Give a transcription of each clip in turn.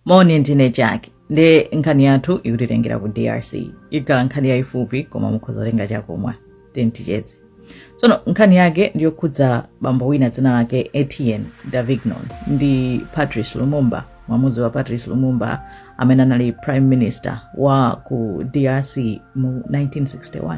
moni ndine jack nde nkhani yathu ikutitengera ku drc ikhala nkhani yayifupi koma mukhoza kutenga chakumwa timticheze tsono nkhani yake ndiyokhudza bambo wina dzina lake etienne davignon ndi patrice lumumba mwamuzi wa patrice lumumba amene anali prime minister wa ku drc mu 1961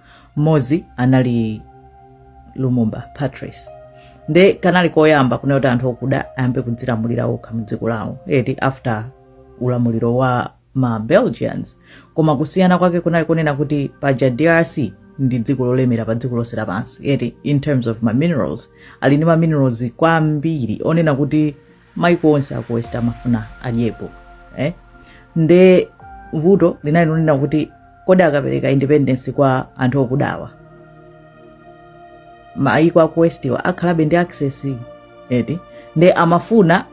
mmodzi anali lumumba patrice nde kanali koyamba kunena kuti anthu okuda ayambe kudzilamulira okha mdziko lawo eti after ulamuliro wa ma belgians koma kusiyana kwake kunali kunena kuti paja drc ndi dziko lolemera pa dziko lonse lapansi eti in terms of ma minerals ali ndi ma minerals kwambiri onena kuti maiko onse aku west amafuna adyepo eh? nde vuto linali lonena kuti kodi akapereka independence kwa anthu okudawa maiko aku westiwa akhalabe ndi access eti nde amafuna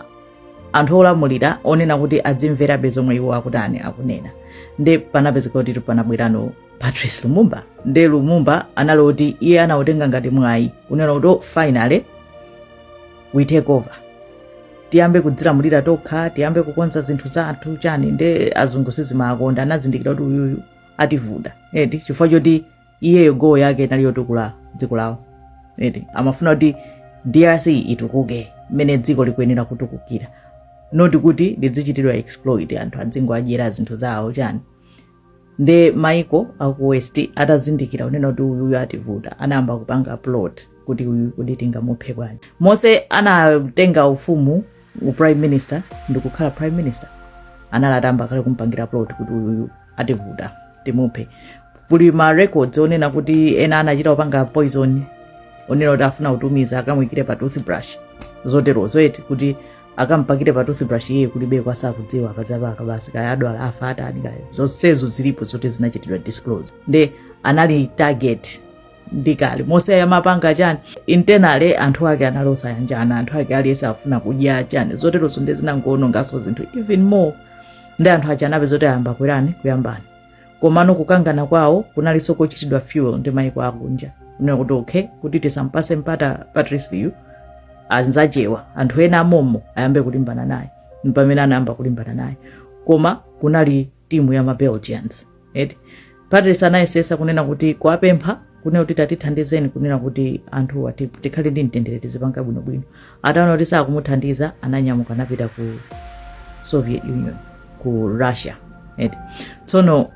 anthu olamulira onena kuti adzimverabe zomwe iwo akutani akunena nde panapezeka kuti panabwerano patrice lumumba nde lumumba anali kuti iye anautenga ngati mwayi kunena kuti oh, finally we take over tiyambe kudzilamulira tokha tiyambe kukonza zinthu zathu chani nde azungu sizimawakonda anazindikira kuti uyuyu ativuta eti chifukwa choti iyeyo goal yake inali yotukula dziko lawo eti amafuna kuti drc itukuke mmene dziko likuyenera kutukukira not kuti lidzichitidwa exploit anthu adzingowadyera zinthu zawo chani nde maiko aku west atazindikira kunena kuti uyuyu ativuta anayamba kupanga plot kuti uyu kuti tingamuphe bwanji mose asanatenge ufumu u prime minister ndikukhala prime minister anali atayamba kale kumpangira plot kuti uyuyu ativuta timuphe kuli ma records onena kuti ena anachita kupanga poison onena kuti afuna kutumiza akamwikire pa toothbrush zoterozo eti kuti akampakire pa toothbrush iye kulibeko asakudziwa akadzaipaka basi kaya adwala afa atani kaya zonsezo zilipo zoti zinachitidwa disclose nde anali target ndi kale mose amapanga chani internally anthu ake anali osayanjana anthu ake aliyense afuna kudya chani zoterozo nde zinangoononganso zinthu even more ndi anthu aja anapeza kuti ayamba kwerana kuyambana komano kukangana kwawo kunalinso kochitidwa fuel ndi maiko akunja kunena kuti okay kuti tisampase mpata patriceyu anzakewa anthu ena amomwemo ayambe kulimbana naye mpamene anayamba kulimbana naye koma kunali timu ya mabelgians eti patrice anayesesa kunena kuti kuwapempha kunena kuti tatithandizeni kunena kuti anthuwa ti- tikhale ndi mtendere tizipanga bwinobwino ataona kuti sakumuthandiza ananyamuka anapita ku soviet union ku russia eti tsono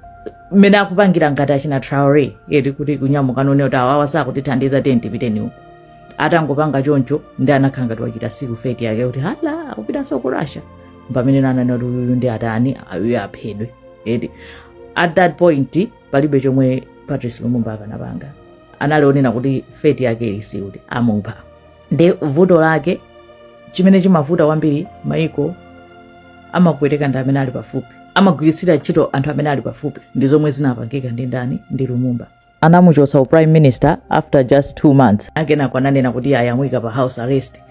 mmene akupangira ngati achina traore eti kuti kunyamuka none kuti awawa sakutithandiza tiyeni tipiteni uku atangopanga choncho nde anakhala ngati wachita seal fate yake kuti hala akupitanso ku russia mpamene ananena kuti uyuyu ndi adani uyuyu aphedwe eti at that point palibe chomwe patrice lumumba akanapanga analionera kuti fate yake ili sealed kuti amupha nde vuto lake chimene chimavuta kwambiri amakupweteka ndi amene ali pafupi amagwiritsira ntchito anthu amene ali pafupi ndi zomwe zinapangika ndi ndani ndi lumumba anamuchotsa u prime minister after just two months akenako ananena kuti amuyika pa house arrest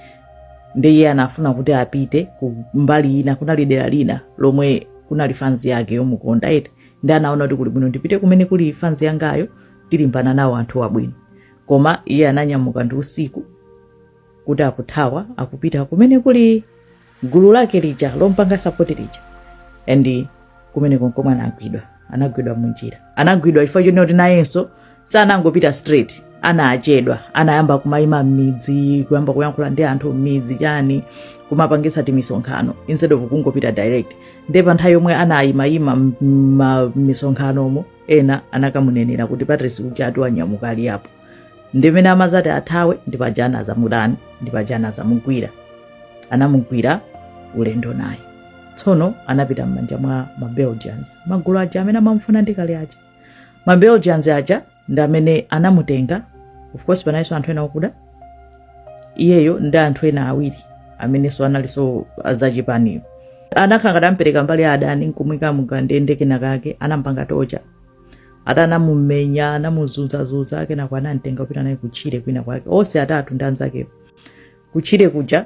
nde iye anafuna kuti apite ku mbali ina kunali dera lina lomwe kunali fans yake yomukonda eti nde anaona kuti kuli bwino ndipite kumene kuli fans yangayo tilimbane nawo anthuwa bwino koma iye ananyamuka ndi usiku kuti akuthawa akupita kumene kuli gulu lake lija lompanga support lija and kumene konkomwe anagwidwa anagwidwa munjira anagwidwa chifukwa chonena kuti nayenso sanangopita straight anachedwa anayamba kumayima m'midzi kuyamba kuyankhula ndi anthu m'midzi chani kumapangisa timisonkhano instead of kungopita direct nde pa nthawi yomwe amayimayima m'misonkhanomo ena anakamunenera kuti patrice uja ati wanyamuka ali apo ndimene amazati athawe ndipaja anazamudani ndipaja anazamugwira anamugwira ulendo naye tsono anapita m'manja mwa mabelgians magulu aja amene amamufuna ndikale aja ma belgians aja ndi amene anamutenga of course panalinso anthu ena okuda iyeyo ndi anthu ena awiri amenenso analinso azachipani iwo anakhala ngati ampereka ku mbali ya adani nkumuika mukandende kena kake anampanga torture ati anamumenya anamuzunzazunza kenako anamtenga kupita naye kutchire kwinakwake onse atatu ndi anzakewo kutchire kuja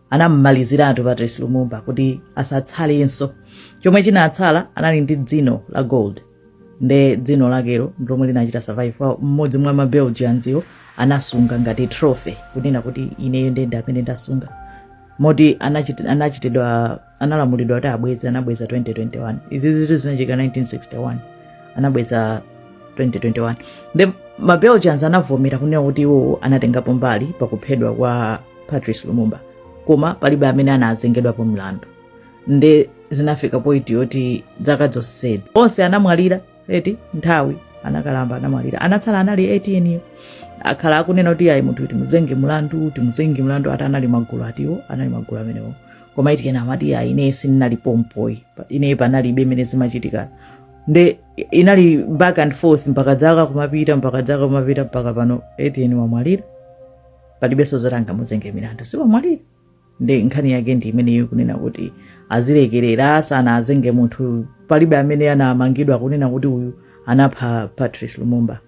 anam'maliziratu patrice lumumba kuti asatsalenso chomwe chinatsala anali ndi dzino la gold nde dzino lakelo ndilomwe linachita survive mmodzi mwa mabelgianziwo anasunga ngati trophy kunena kuti ineyo ndine amene ndasunga moti anachitidwa analamulidwa kuti abweze anabweza 2021 izizitu zinachitika 1961 anabweza 2021 nde mabelgians anavomera kunena kuti iwo anatengapo mbali pakuphedwa kwa patrice lumumba koma palibe amene anazengedwapo mlandu nde zinafika point yoti dzaka zonsezi onse anamwalira eti nthawi anakalamba anamwalira anatsala anali Etienne yo akhala akunena kuti ayi munthu timuzenge mlandu timuzenge mlandu ati anali magulu atiwo anali magulu amenewo koma Etienne amati ayi ine sindinali pompo Pa- ine panalibe imene zimachitika nde inali back and forth mpaka dzaka kumapita mpaka dzaka kumapita mpaka pano Etienne wamwalira palibenso zoti angamuzenge mlandu siwamwalira nde nkhani yake ndi imeneyo kunena kuti azilekerera sanaazenge munthu palibe amene anamangidwa kunena kuti uyu anapha patrice lumumba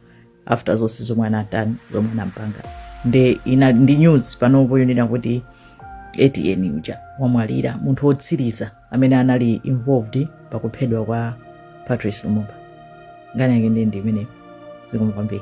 after zonse zomwe anatani zomwe anampanga nde ndi news panopo yonena kuti Etienne uja wamwalira munthu wotsiriza amene anali involved pakuphedwa kwa patrice lumumba nkhani yake ndi ndi imeneyo zikomo kwambiri